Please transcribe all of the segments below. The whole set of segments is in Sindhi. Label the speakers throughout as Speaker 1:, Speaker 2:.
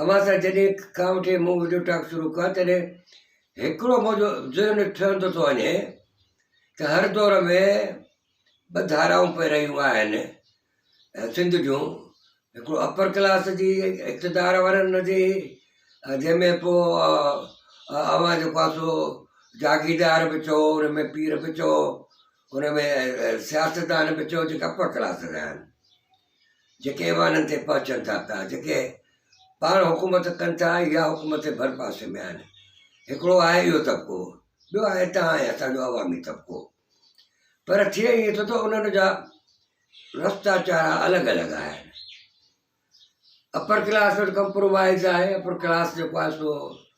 Speaker 1: اوهان سان جڏهن کان وٺي مون وڊيو ٽاڪ شروع ڪيو آهي تڏهن هڪڙو منهنجو ذهن ٺهندو ٿو وڃي ته هر دور ۾ ٻه ڌارائون پئي رهيون آهن سنڌ جون هڪڙو اپر ڪلاس جي اقتدار وارن جي جنهن ۾ پوء اوهان جيڪو آهي سو جاگيردار به چئو ان ۾ پير به چئو ان ۾ سياستدان به چئو جيڪي اپر ڪلاس جا آهن جيڪي ايوانن تي پهچن ٿا پيا، جيڪي پاڻ حڪومت ڪن ٿا يا حڪومت جي ڀرپاسي ۾ آهن، هڪڙو آهي اهو طبقو، ٻيو آهي توهان ۽ اسان جو عوامي طبقو. پر ٿئي ائين ٿو ته انهن جا رستا چارا الڳ الڳ آهن. اپر ڪلاس وٽ ڪمپرومائز آهي، اپر ڪلاس جيڪو آهي سو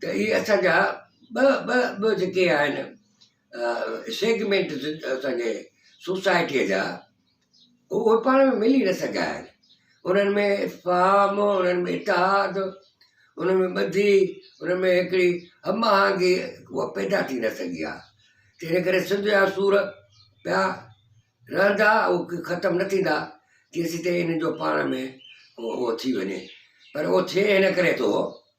Speaker 1: ته اهي اسان جا ٻه ٻه ٻه جيڪي آهن سيگمينٽ اسان جي سوسائٽيء جا اهي پاڻ ۾ ملي نه سگهيا آهن انهن ۾ افهام انهن ۾ اتحاد انهن ۾ ٻڌي انهن ۾ هڪڙي هم آهنگي هوء پيدا ٿي نه سگهي آهي تنهن ڪري سنڌ جا سور پيا رهندا هو ختم نه ٿيندا ڪيسين تائين انهن جو پاڻ ۾ هو ٿي وڃي پر هو ٿئي هن ڪري ٿو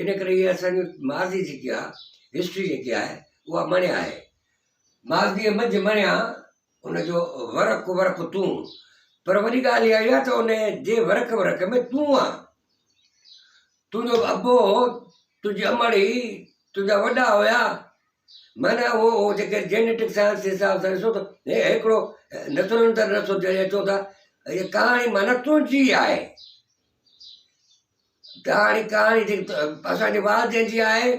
Speaker 1: ان ڪري هي اسان جي ماضي جيڪي آ History جيڪي آهي اها مڻيا آهي ماضيء منجهه مڻيا ان جو ورق ورق تون پر وڏي ڳالهه اها آهي ته ان جي ورق ورق ۾ تون آ تنهنجو ابو هو تنهنجي امڙي تنهنجا وڏا هيا معنيٰ اهو هو جيڪي جينيٽڪ سائنس جي حساب سان ڏسو ته هي هڪڙو نسل اندر نسل جڏهن اچو ٿا هيء ڪهاڻي معنيٰ تنهنجي آهي ڪهاڻي ڪهاڻي جيڪي اسان جي والدين جي آهي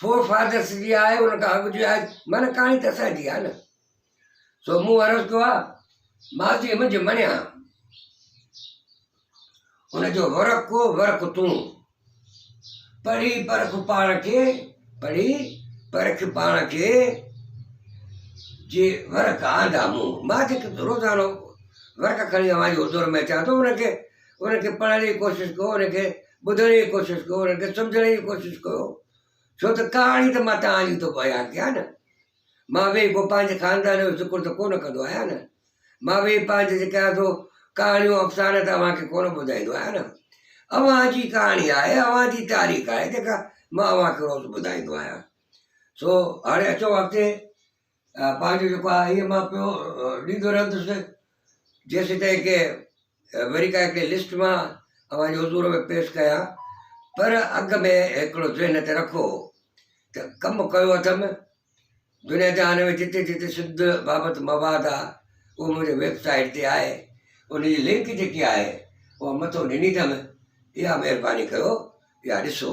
Speaker 1: فور فادرس جي آهي ان کان اڳ جي آهي معنيٰ ڪهاڻي ته اسانجي آهي نه سو مون عرض ڪيو آ ماضي منجهه مڃيا ان جو ورق ڪو ورق تون پڙهي پرک پاڻ کي پڙهي پرک پاڻ کي جي ورق آندا مون ماضي روزانو ورق کڻي اوهان جي حضور ۾ اچان ٿو ان کي ان کي پڙهڻ جي ڪوشش ڪيو ان کي ٻڌڻ جي ڪوشش ڪيو ان کي سمجهڻ جي ڪوشش ڪيو ڇو ته ڪهاڻي ته مان تهان جي ٿو بيان ڪيان نه مان ويهي پوء پنهنجي خاندان جو ذڪر ته ڪونه ڪندو آهيان نه مان ويهي پنهنجي جيڪي آهي سو ڪهاڻيون افسانه ته اوهان کي ڪونه ٻڌائيندو آهيان نه اوهان جي ڪهاڻي آهي اوهان جي تاريخ آهي جيڪا مان اوهان کي روز ٻڌائيندو آهيان سو هاڻي اچو اڳتي پنهنجو جيڪو آهي هيء مان پيو ڏيندو رهندس جيسين تائين ڪي وري ڪا هڪڙي لسٽ مان اوهان جي حضور ۾ پيش ڪيان پر اڳ ۾ هڪڙو ذهن تي رکو ته ڪم ڪيو اٿم دنيا جهان ۾ جتي جتي سنڌ بابت مواد آهي اهو منهنجي ويب سائيٽ تي آهي ان جي لنڪ جيڪي آهي اها مٿو ڏني اٿم اها مهرباني ڪيو يا ڏسو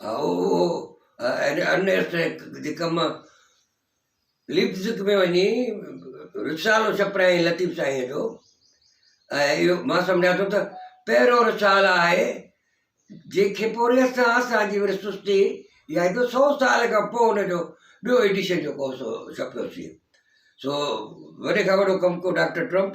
Speaker 1: اهو انيسٽ جي ڪم ليپزڪ ۾ وڃي رسالو ڇپرايائين لطيف سائينء جو ۽ اهو مان سمجهان ٿو ته پهريون رسالو آهي جنهن کي پوري اسان اسان جي وري سستي يا ايڏو سو سال کان پوء ان جو ٻيو ايڊيشن جيڪو سو ڇپيوسي سو وڏي کان وڏو ڪم ڪو ڊاڪٽر ٽرمپ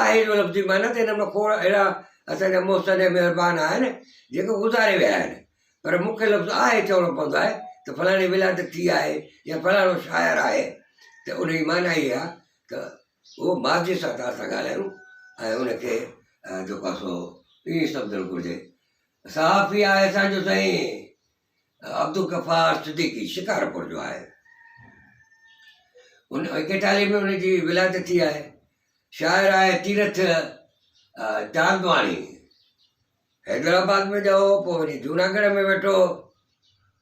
Speaker 1: آهي جو لفظي معنيٰ ته هن مان کوڙ اهڙا اسان جا محسن ۽ مهربان آهن، جيڪي گذاري ويا آهن، پر مون کي لفظ آهي چوڻو پوندو آهي ته فلاڻي ولادت ٿي آهي يا فلاڻو شاعر آهي ته ان جي معنيٰ اهي آهي ته اهو ماضيء سان ته اسان ڳالهايون ۽ ان کي جيڪو آهي سو ائين سمجهڻ گهرجي. صحافي آهي اسان جو سائين. عبدالغفار صديقي شڪارپور جو آهي. ان ايڪيٽالي ۾ ان جي ولادت ٿي آهي. شاعر آهي تيرٿ چاندواڻي حيدرآباد ۾ ڄائو پوء وڃي جوناگڙھ ۾ ويٺو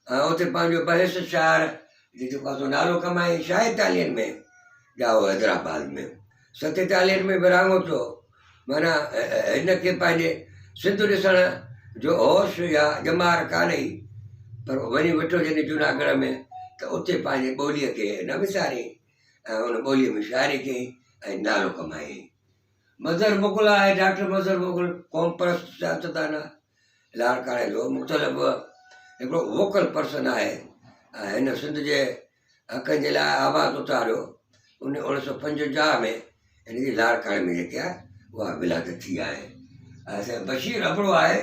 Speaker 1: ۽ اتي پنهنجو بحث شاعر جي جيڪو نالو ڪمائي شاهي تالين ۾ ڄائو حيدرآباد ۾ ستيتاليهن ۾ ورهاڱو ٿيو هو، معنيٰ هن کي پنهنجي سنڌ ڏسڻ جو هوش يا ڄمار ڪانه هئي، پر وڃي ويٺو جڏهن جوناگڙهه ۾ ته اتي پنهنجي ٻوليء کي نه وساريائين ۽ ان ٻوليء ۾ شاعري ڪيائين ۽ نالو ڪمايائين. مظهر مغل آء ڊاڪٽر مظهر مغل قومپرست سياستدان، لاڙڪاڻي جو مختلف هڪڙو ووڪل پرسن آهي ۽ هن سنڌ جي حقن جي لاء آواز اٿاريو ان اوڻيھ سؤ پنجونجاھ ۾ ان جي لاڙڪاڻي ۾ جيڪي آھي اها ولادت ٿي آھي ۽ سائين بشير ابڙو آھي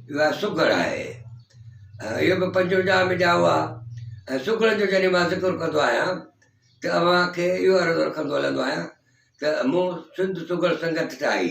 Speaker 1: اهو آھي سگهڙ آھي ۽ اهو به پنجونجاھ ۾ ڄائو آھي ۽ سگهڙن جو جڏهن مان ذڪر ڪندو آھيان ته اوهان کي اهو عرض رکندو هلندو آھيان ته مون سنڌ سگهڙ سنگت ٺاهي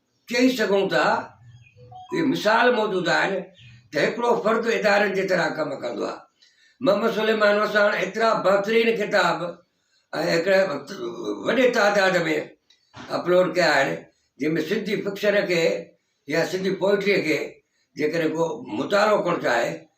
Speaker 1: چئي سگهون ٿا اهي مثال موجود آهن ته هڪڙو فرد اداري جي طرح ڪم ڪندو آهي محمد سليمان وساڻ ايترا بهترين ڪتاب ۽ هڪڙي وڏي تعداد ۾ اپلوڊ ڪيا آهن جن ۾ سنڌي فڪشن کي يا سنڌي پوئٽري کي جيڪڏهن ڪو مطالعو ڪرڻ چاهي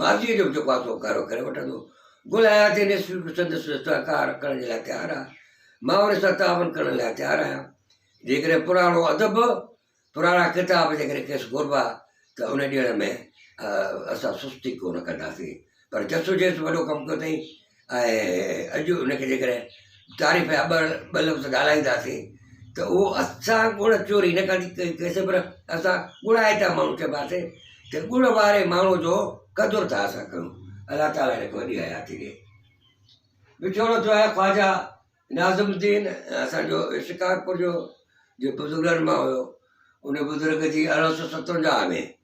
Speaker 1: ماضيء جو به جيڪو آسو اڪارو ڪري وٺندو. گل حياتي نيسري به سندس سهڪار ڪرڻ جي لاء تيار آهي. مان وري سان تعاون ڪرڻ لاء تيار آهيان. جيڪڏهن پراڻو ادب، پراڻا ڪتاب جيڪڏهن کيس گهربا ته ان ڏيڻ ۾ اسان سستي ڪو نه ڪنداسين. پر جسوجيس وڏو ڪم ڪيو اٿئي. ۽ اڄ ان کي جيڪڏهن تعريف جا ٻه ٻه لفظ ڳالهائينداسين ته اهو اسان ڳوڙ چوري هن ڪري ڪئي ڪئيسي پر اسان ڳوڙائي ته ماڻهو چئباسين ته ڳوڙ واري ماڻهو جو قدر ٿا اسان ڪيون الله تعاليٰ هن کي وڏي حياتي ڏي وڇوڙو ٿيو آهي خواجا ناظم الدين اسانجو شڪارپور جو جي بزرگن مان هيو ان بزرگ جي ارڙهن سو ستونجاهه ۾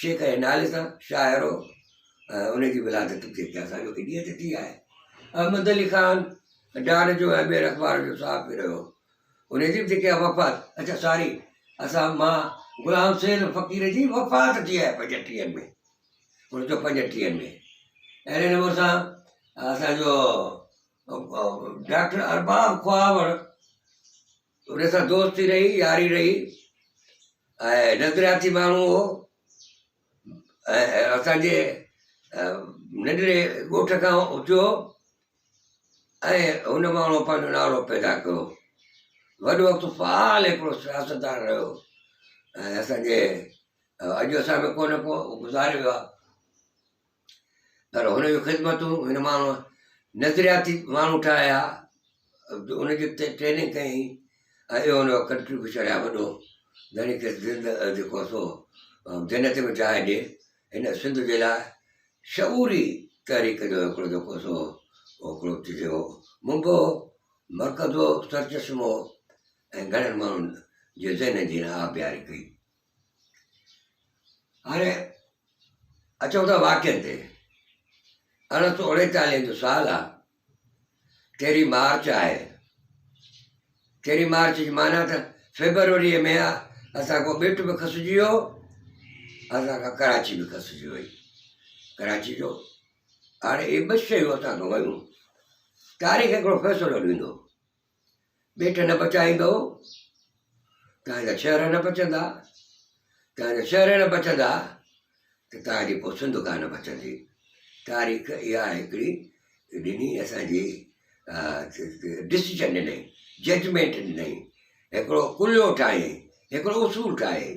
Speaker 1: شيخ جي نالي سان شاعر هو ۽ ان جي ولادت به جيڪي اسان جو انهيء تي ٿي آهي. احمد علي خان ڊار جو ۽ ٻين اخبارن جو صحافي رهيو. ان جي به جيڪي آهي وفات اڇا ساري اسان مان غلام حسين فقير جي وفات ٿي آهي پنجٽيهن ۾ انهن جو پنجٽيهن ۾ اهڙي نموني سان اسان جو ڊاڪٽر ارباب خواهور ان سان دوستي رهي، ياري رهي ۽ نظرياتي ماڻهو هو ۽ اسان جي ننڍڙي ڳوٺ کان اٿيو ۽ هن ماڻهو پنهنجو نالو پيدا ڪيو وڏو وقت فعال هڪڙو سياستدان رهيو ۽ اسان جي اڄ اسان ۾ ڪو نه ڪو گذاري ويو پر هن جون خدمتون هن ماڻهوء نظرياتي ماڻهو ٺاهيا، ان جي ٽريننگ ڪئي ۽ اهو هن جو ڪنٽريبيوشن آهي وڏو، جنهن کيس زنده جيڪو سو جنت ۾ جاء ڏي. هن سنڌ جي لاء شعوري تحريڪ جو هڪڙو جيڪو سو هڪڙو چئجي هو منبع هو، مرڪز هو، سرچشمو هو ۽ گهڻن ماڻهن جي ذهنن جي هن آبياري ڪئي. هاڻي اچون ٿا واقعن تي ارڙهن سو اڻيتاليهن جو سال آ تيري مارچ آهي تيري مارچ جي معنی ته فيبروري ۾ اسان کو ٻيٽ به کسجي ويو اسان کان ڪراچي به کسجي وئي ڪراچي جو هاڻي اهي ٻه شيون اسان کان ويون تاريخ هڪڙو فيصلو ڏيندو ٻيٽ نه بچائيندؤ، توهان جا شهر نه بچندا، توهان جا شهر نه بچندا ته توهان جي پوء سنڌ ڪا نه بچندي. تاريخ اها هڪڙي ڏني اسانجي ڊسيجن ڏنائين ججمينٽ ڏنائين هڪڙو ڪليو ٺاهيائين هڪڙو اصول ٺاهيائين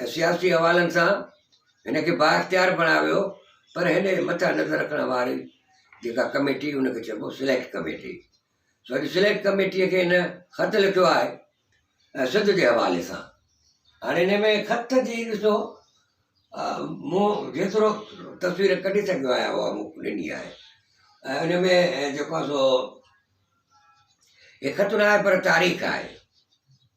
Speaker 1: ۽ سياسي حوالن سان هن کي بااختيار بڻايو ويو پر هن جي مٿان نظر رکڻ واري جيڪا ڪميٽي ان کي چئبو سليڪٽ ڪميٽي سو اڄ سليڪٽ ڪميٽي کي هن خط لکيو آهي ۽ سڌ جي حوالي سان هاڻي هن ۾ خط جي ڏسو مون جيترو تصوير ڪڍي سگهيو آهيان اها مون ڏني آهي ۽ ان ۾ جيڪو سو هي خط نه آهي پر تاريخ آهي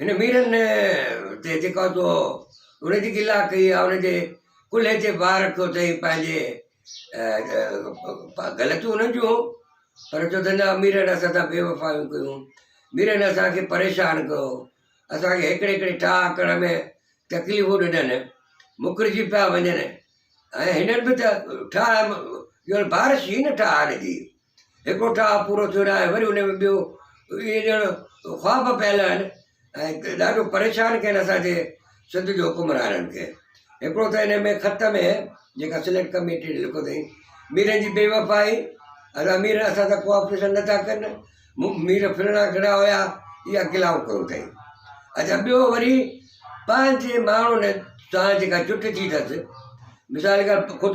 Speaker 1: هن ميرن تي جيڪا تو ان جي گلا ڪئي آ ان جي ڪلهي تي بار رکيو اٿئي پنهنجي غلطيون انهن جون هو پر چو ته نه ميرن اسان سان بي وفايون ڪيون ميرن اسانکي پريشان ڪيو اسانکي هڪڙي هڪڙي ٺاهه ڪرڻ ۾ تڪليفون ڏنن مڪرجي پيا وڃن ۽ هنن به ته ٺاهه ڄڻ بارش هي نه ٺاهه هنن جي هڪڙو ٺاهه پورو ٿيو ناهي وري ان ۾ ٻيو اهي ڄڻ خواب پيل آهن ۽ ڏاڍو پريشان ڪين اسان جي سنڌ جي حڪمرانن کي هڪڙو ته ان ۾ خط ۾ جيڪا سليڪٽ ڪميٽي ڏي لکو اٿئي ميرن جي بي وفائي اسان مير اسان سان ڪوآپريشن نٿا ڪن مير ڦرڻا گھڙا هيا اها گلاون ڪيو اٿئي اچا ٻيو وري پنهنجي ماڻهن سان جيڪا جٺ ٿي اٿس مثال کي خود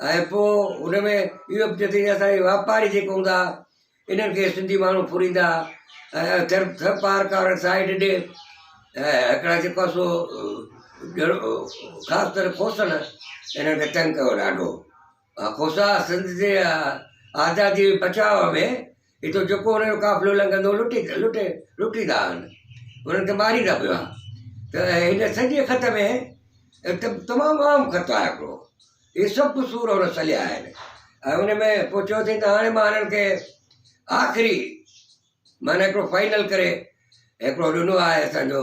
Speaker 1: ۽ پوء ان ۾ اهو به ٿيو ته اسان جي واپاري جيڪي هوندا انهن کي سنڌي ماڻهو ڦريندا ۽ ٿر ٿر پار ڪارڻ سائيڊ ڏي ۽ هڪڙا جيڪو آ سو ڄڻ خاص ڪري کوسن انهن کي تنگ ڪيو ڏاڍو ها کوسا سنڌ جي آزادي بچاء ۾ اتو جيڪو انهن جو قافلو لنگهندو لٽي لٽي لٽيندا آهن انهن کي ماريندا به آهن ته هن سڄي خط ۾ تمام عام خط آهي هڪڙو هي سڀ قصور هن سليا آهن ۽ ان ۾ پوء چيو اٿئي ته هاڻي مان هنن کي آخري معنيٰ هڪڙو فائنل ڪري هڪڙو ڏنو آهي اسان جو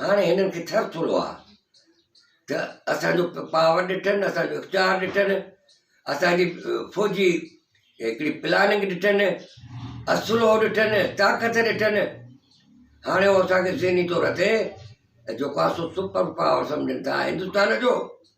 Speaker 1: هاڻي هنن کي ٿر ٿورو آ ته اسان جو پاور ڏٺن اسان جو اختيار ڏٺن اسان جي فوجي هڪڙي پلاننگ ڏٺن اسلو ڏٺن طاقت ڏٺن هاڻي هو اسان کي ذهني طور تي جو ڪاسو سپر پاور سمجهن ٿا هندوستان جو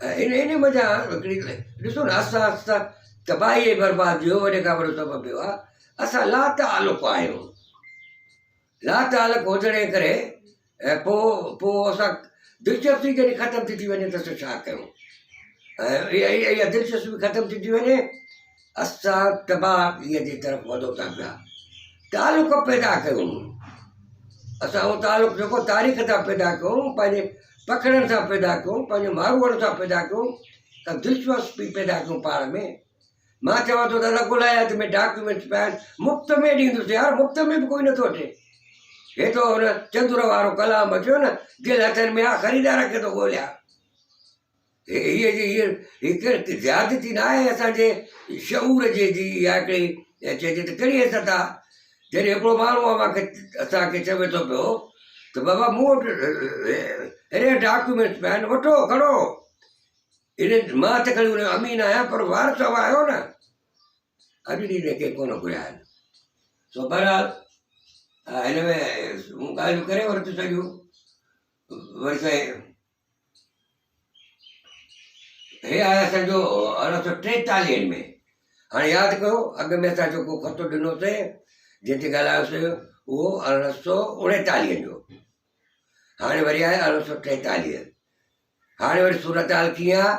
Speaker 1: ان ان مزا ھڪڙي ڪلي ڏسو نا آھسته آھسته تباھي ۽ بربادي جو وڏي کان وڏو سبب اھو آھي اسان لاتعلق آھيون لاتعلق ھجڻ جي ڪري ۽ پو پو اسان دلچسپي جڏھن ختم ٿي ٿي وڃي ته اسان ڇا ڪيون ۽ اھا اھا اھا دلچسپي ختم ٿي ٿي وڃي اسان تباهگيء جي طرف وڌو ٿا پيا تعلق پيدا ڪيون اسان اهو تعلق جيڪو تاريخ سان پيدا ڪيون پنهنجي پکڙن سان پيدا ڪيون پنهنجي ماروئڙ سان پيدا ڪيون ته دلچسپي پيدا ڪيون پاڻ ۾ مان چوان ٿو ته الله ڳولائي ۾ ڊاڪيومينٽس پيا آهن مفت ۾ ڏيندوسي يار مفت ۾ به ڪوئي نٿو اچي هي تو هن چندر وارو ڪلام اچيو نه دل هٿن ۾ آ خريدار کي ٿو ڳوليان هيء جي هيء هڪ زيادتي نه آهي اسان جي شعور جي جي يا هڪڙي چئجي ته ڪهڙي حيثيت آ جڏهن هڪڙو ماڻهو اوهان کي اسان کي چوي ٿو پيو ته بابا مون وٽ اهڙي ڊاڪيومينٽس پيا آهن وٺو کڻو ان مان ته کڻي ان امين آهيان پر وارث اوهان آهيو نه اڄ ڏينهن تائين ڪنهن ڪونه گهريا آهن سو بهرحال هن ۾ مون ڳالهيون ڪري ورتيون سڄيون وري سائين هي آهي اسان جو ارڙهن سو ٽيتاليهن ۾ هاڻي ياد ڪيو اڳ ۾ اسان جيڪو خطو ڏنوسي جنهن تي ڳالهايوسي اهو ارڙهن سو اڻيتاليهن جو هاڻي وري آهي ارڙهن سو ٽيتاليهه هاڻي وري صورتحال ڪيئن آهي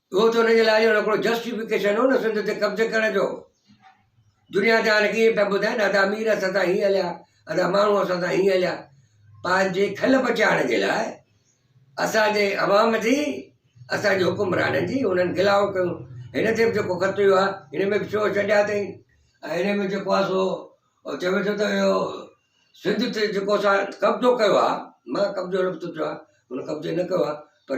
Speaker 1: اهو ته ان جي لاء جو هڪڙو جسٽيفڪيشن هو نه سنڌ تي قبضي ڪرڻ جو. دنيا ته هاڻي ائين پيا ٻڌائين ادا امير اسان سان هيئن هليا ادا ماڻهو اسان سان هيئن هليا. پنهنجي کل بچائڻ جي لاء اسان جي عوام جي اسان جي حڪمرانن جي انهن گلاهو ڪيون. هن تي به جيڪو خط اهو آ ان ۾ به شو ڇڏيا اٿئين. ۽ ان ۾ جيڪو آ سو چوي ٿو ته اهو سنڌ تي جيڪو اسان قبضو ڪيو آ مان قبضو لفظ چيو آ هن قبضي نه ڪيو آ پر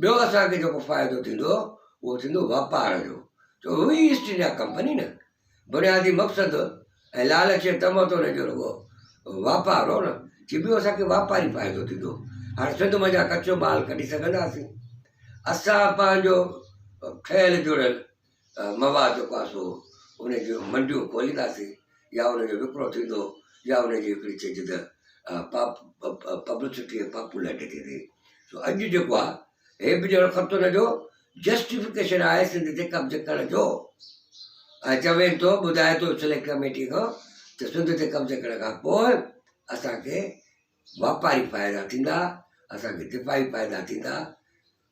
Speaker 1: ٻيو اسان کي جيڪو فائدو ٿيندو اهو ٿيندو واپار جو ڇو هئي ايسٽ انڊيا ڪمپني نه بنيادي مقصد ۽ لالچ ۽ طمع تو نه جو رڳو واپار هو نه چي ٻيو اسان کي واپاري فائدو ٿيندو هاڻي سنڌ منجهان ڪچو مال ڪڍي سگهنداسين اسان پنهنجو ٺهيل جڙيل مواد جو پاسو، ان جون منڊيون کولينداسين يا ان جو وڪرو ٿيندو يا ان جي هڪڙي چيجهه ته پبلسٽي ۽ پاپولرٽي ٿيندي. سو اڄ جيڪو آهي هي به ڄڻ خط ان جو جسٽيفڪيشن آهي سنڌ تي قبض ڪرڻ جو ۽ چوين ٿو ٻڌائي ٿو سليڪٽ ڪميٽي کان ته سنڌ تي قبض ڪرڻ کان پوء اسان کي واپاري فائدا ٿيندا اسان کي دفاعي فائدا ٿيندا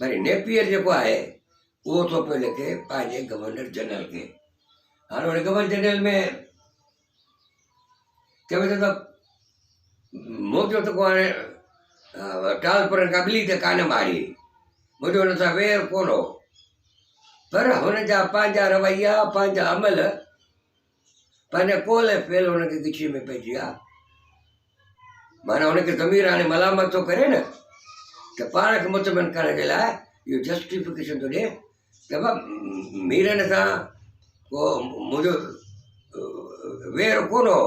Speaker 1: وري نيپيئر جيڪو آهي اهو ٿو پيو لکي پنهنجي گورنر جنرل کي هاڻي هن گورنر جنرل ۾ چوي ٿو ته موجو ته ڪوانه ٽال پر کا ٻلي ته ڪانه ماري موجو هن سان وير ڪونه پر هن جا پنهنجا رويا پنهنجا عمل پنهنجا قول ۽ فعل هن کي ڳچيء ۾ پئجي ويا. معنيٰ هن کي ضمير هاڻي ملامت ٿو ڪري نه ته پاڻ کي مطمئن ڪرڻ جي لاء اهو جسٽيفڪيشن ٿو ڏي ته بابا ميرن سان ڪو منهنجو وير ڪونه هو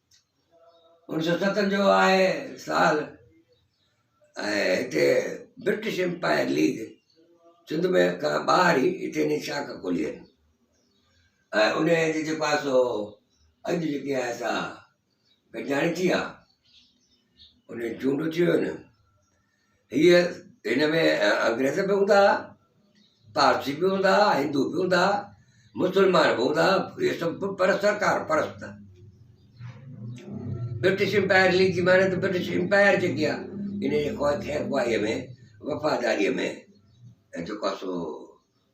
Speaker 1: انهن سو ستن جو آهي سال ۽ هتي برٽش امپائر ليگ سنڌ ۾ کان ٻاهر ئي هتي ني شاخ کولي آهن ۽ ان جي جيڪو آهي سو اڄ جيڪي آهي سا گڏجاڻي ٿي آهي ان جي چونڊ ٿيون آهن هيء هن ۾ انگريز به هوندا، پارسي به هوندا، هندو به هوندا، مسلمان به هوندا، اهي سڀ پر سرڪار پرست. برٽش امپائر ليگ جي معنی ته برٽش امپائر جيڪي آهي ان جي خيرخواهيء ۾ وفاداريء ۾ جيڪو سو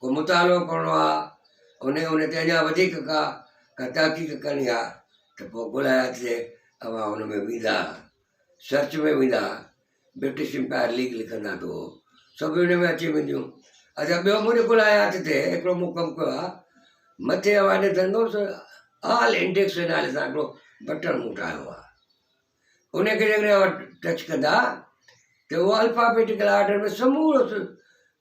Speaker 1: ڪو مطالعو ڪرڻو آ انهي انهي تي اڃان وڌيڪ ڪا ڪا تحقيق ڪرڻي آ ته پوء ڳولهائي اچجي اوهان ان ۾ ويندا سرچ ۾ ويندا برٽش امپائر ليگ لکندا تو سڀ ان ۾ اچي وينديون اچا ٻيو منهنجو ڳولهائي هٿ تي هڪڙو مون ڪم ڪيو آ مٿي اوهان ڏسندو ته آل انڊيڪس نالي سان هڪڙو بٽڻ مون ٺاهيو آ ان کي جيڪڏهن اوهان ٽچ ڪندا ته اهو الفابيٽيڪل آرڊر ۾ سمورو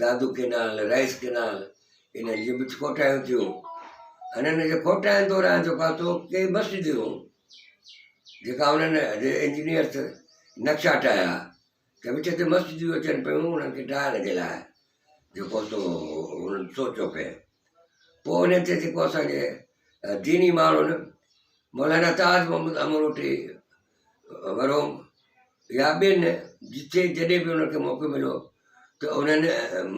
Speaker 1: دادو ڪينال، رئيس ڪينال انهن جون به کوٽايون ٿيون. انهن جي کوٽاين دوران جو ڪاتو ڪي مسجدون جيڪا انهن جي انجنيئر تھ نقشا ٺاهيا ته وچ تي مسجدون اچن پيون انهن کي ڊاهڻ جي لاء جيڪو سو انهن سوچيو پئي پوء انهن تي جيڪو اسان جي ديني ماڻهن مولانا تاج محمد امروٽي روم يا ٻين جتي جڏهن به انهن کي موقعو مليو ته انهن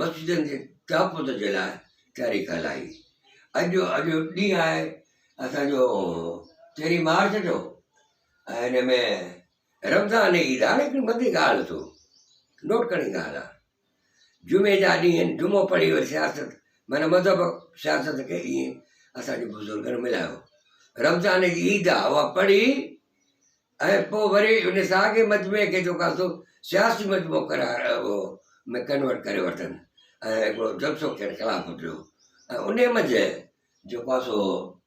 Speaker 1: مسجدن جي تحفظ جي لاء تحريڪ هلائي اڄ جو اڄ جو ڏينهن آهي اسانجو تيرهين مارچ جو ۽ هن ۾ رمضان عيد آهي ليڪن ٻڌي ڳالهه تو نوٽ ڪرڻي ڳالهه آهي جمعي جا ڏينهن جمعو پڙهي وري سياست معنيٰ مذهب سياست کي ائين اسان جي بزرگن ملايو رمضان جي عيد آ اها پڙهي ۽ پوء وري ان ساڳي مجمعي کي جيڪو سو سياسي مجمعو قرار هو ۾ ڪنورٽ ڪري ورتن ۽ هڪڙو جلسو کين خلافت ڏيو ۽ انهي منجهه جيڪو سو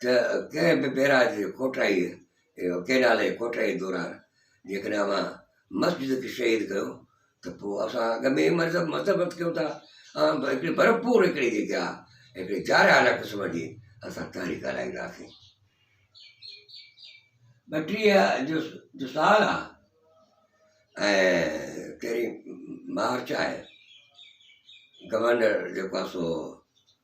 Speaker 1: ته ڪنهن به بئراج جي کوٽائيء، ڪئنال جي کوٽائيء، دوران جيڪڏهن اوهان مسجد کي شهيد ڪيو ته پوء اسان اڳ ۾ ئي مذمت ڪيون ٿا ۽ هڪڙي ڀرپور هڪڙي جيڪي آهي هڪڙي جارحانه قسم جي اسان تحريڪ هلائينداسين. ٻٽيهه جو جو سال آهي ۽ تيرهين مارچ آهي، گورنر جيڪو آهي سو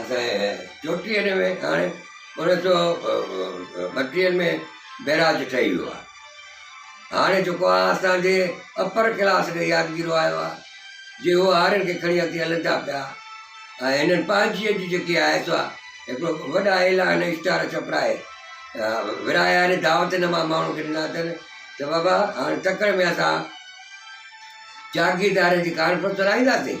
Speaker 1: اسان چوٽيهه ۾ هاڻي انيس سو ٻٽيهن ۾ بئراج ٺهي ويو آهي هاڻي جيڪو آهي اسانجي اپر ڪلاس کي يادگيرو آيو آهي جي هو هارين کي کڻي اڳتي هلن ٿا پيا ۽ هنن پنهنجي جي جيڪي آهي سا هڪڙو وڏا اعلان اشتهار ڇپرائي ورهايا آهن دعوت هن ماڻهن ماڻهو کي ڏنا اٿن ته بابا هاڻي تڪڙ ۾ اسان جاگيردارن جي ڪانفرنس لاهينداسين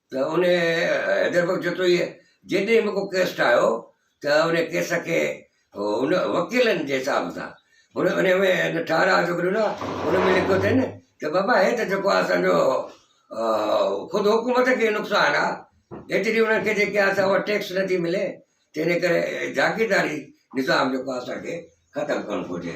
Speaker 1: ته ان حيدر بخش جتوئيء جيڏي به ڪو ڪيس ٺاهيو ته ان ڪيس کي ان وڪيلن جي حساب سان ان ان ۾ ٺهراء جيڪو ڏنو آهي ان ۾ لکيو اٿئي نه ته بابا هي ته جيڪو آهي اسانجو خود حڪومت کي نقصان آهي ايتري انهن کي جيڪي آهي سا ٽيڪس نٿي ملي تنهن ڪري جاگيرداري نظام جيڪو آهي اسانکي ختم ڪرڻ گهرجي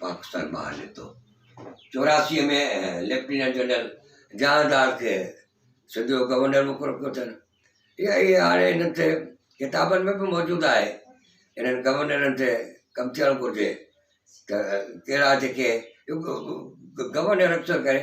Speaker 1: پاڪستان ٻاهر نڪتو. چوراسيء ۾ ليفٽيننٽ جنرل جهاندار کي سنڌ جو گورنر مقرر ڪيو اٿن اها اهي هاڻي هنن تي ڪتابن ۾ به موجود آهي هنن گورنرن تي ڪم ٿيڻ گهرجي ته ڪهڙا جيڪي گورنر اڪثر ڪري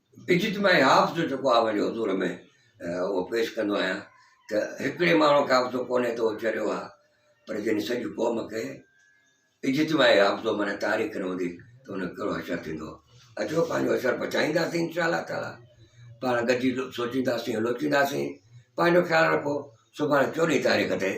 Speaker 1: اجتماعي هاف جو جيڪو آء پنهنجي حضور ۾ اهو پيش ڪندو آهيان ته هڪڙي ماڻهو کي حافظو ڪونهي ته اهو چريو آهي پر جنهن سڄي قوم کي اجتماعي حافظو معنيٰ تاريخ نه هوندي ته ان جو ڪهڙو حشر ٿيندو اچو پنهنجو حشر بچائينداسين انشاء الله تعالی پاڻ گڏجي سوچينداسين لوچينداسين پنهنجو خيال رکو سڀاڻي چوڏهين تاريخ تي